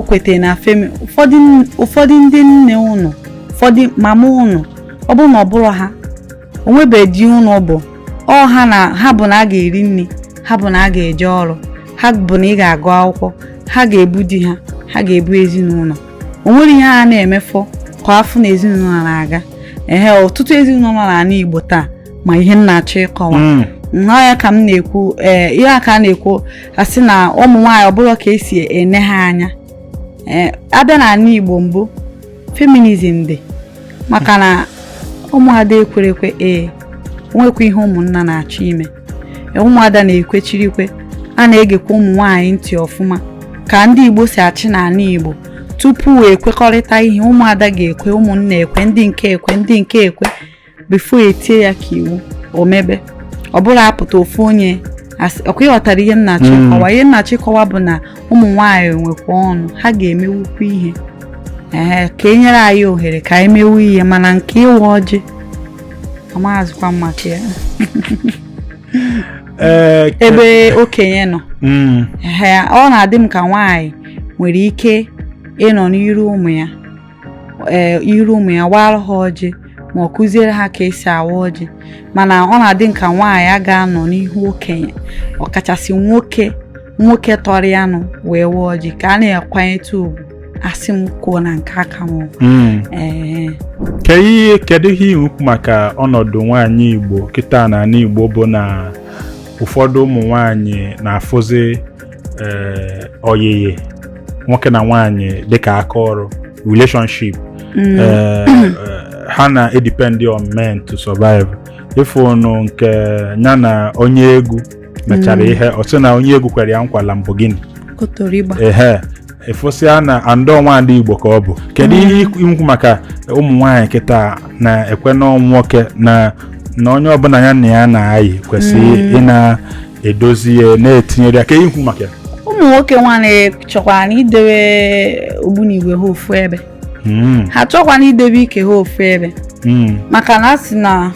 o kwetara na Femi ụfọdụ ndị nne ụnụ ụfọdụ mama ụnụ ọ bụrụ na ọ bụrọ ha o nwebeghị ndị ụnụ bụ ọ ha na ha bụ na a ga-eri nri ha bụ na a ga-eje ọrụ ha bụ na ị ga-agụ akwụkwọ ha ga-ebu di ha ha ga-ebu ezinụlọ o nwere ihe ha na-emefọ ka a fụ na ezinụlọ na-aga ehe ọtụtụ ezinụlọ nọ n'ala Igbo taa ma ihe m na-achọ ịkọwa hmm. nnọọ ya ka m na-ekwu ee eh, ihe a ka a na-ekwu a sị na ụmụ nwaanyị ọbụla ka esi ene ha anya eh, a bịa n'ala Igbo mbụ feminism dị maka na ụmụada ekwerekwe ee nwekwa ihe ụmụnna na-achọ ime e, ụmụada na-ekwechirikwe a na-egekwa ụmụ nwaanyị ntị ọfụma ka ndị Igbo si achị n'ala Igbo tupu ekwekọrịta ihe ụmụada ga-ekwe ụmụnna ekwe ndị nke ekwe ndị nke ekwe before e tie ya ka iwu o mebe ọ bụrọ a pụta ofu onye ọkwa ị ghọtara ihe m na-achọ hmm. ịkọwa ihe m na-achọ ịkọwa bụ na ụmụ nwaanyị nwekwa ọnụ ha ga-emewukwa ihe ee ka e nyere anyị ohere ka anyị mewu ihe mana nke ịwa ọjị amaghazikwa m maka ya eh, ebe okenye nọ hmm. ọ na-adị m ka nwaanyị nwere ike ịnọ n'iru ụmụ ya ee iru ụmụ ya waara ha ọjị ma ọ kụziere ha ka esi awa ọjị mana ọ na-adị m ka nwaanyị a ga-anọ n'ihu okenye ọkachasị nwoke nwoke tọrọ ya nụ wee waa ọjị ka a na-akwanyetụ ugwu a sị m kwuo na nke aka m hmm. ee kedu ihe ikwu maka ọnọdụ nwaanyị Igbo kịta na ala Igbo bụ na ụfọdụ ụmụ nwanyị na-afụzi eh, ọyịyị nwoke na nwaanyị dịka aka ọrụ relationship mm. eh, eh, ha na-edepend on men to survive ị fụnụ nke ya na onye egwu mechara mm. ihe ọ sị na onye egwu kwere ya nkwa Lamborghini ehe ị fụsịa na and ọ nwaada igbo ka ọ bụ kedu mm. ihe ikwu maka ụmụ nwaanyị kịta na-ekwe na ọ nwoke na na onye ọbụla ya na ya na-ayị kwesịrị mm. ịna edozi ya na-etinyere ya aka ihe ikwu maka ya ụmụ nwoke nwanụ chọkwanụ idewe ogbunigwe ha ofu ebe Hmm, ha chọkwanụ idebe ike ha ofu ebe hmm, maka na a sị na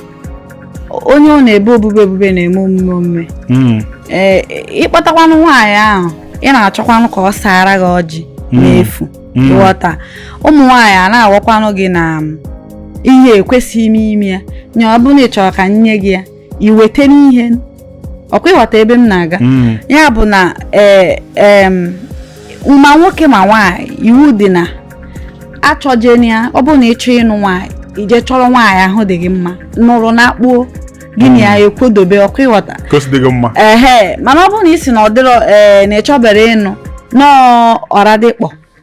onye ọ na-ebe obube obube na-eme omume omume hmm, ee ị kpọtakwanụ nwaanyị ahụ ị na-achọkwanụ ka ọ saara gị ọjị Mm. n'efu Mm. ị ghọta ụmụ nwaanyị a na-agwakwanụ gị na um, ihe ekwesịghị ime ime ya nye ọ bụrụ na ị chọrọ ka e nye gị ya iweta n'ihe ọkwa ị ghọta ebe m na-aga hmm. ya bụ na e, ma nwoke ma nwaanyị iwu dị na achọjeni ya ọ bụrụ na ị chọọ ịnụ nwaanyị i je chọrọ nwaanyị ahụ dị gị mma nụrụ na akpuo gị na ya hmm. ekwodobe ọkwa ị ghọta ehe mana ọ bụrụ na ị sị na ọ dịrọ ee na ị chọbere ịnụ nọọ ọra dịkpọ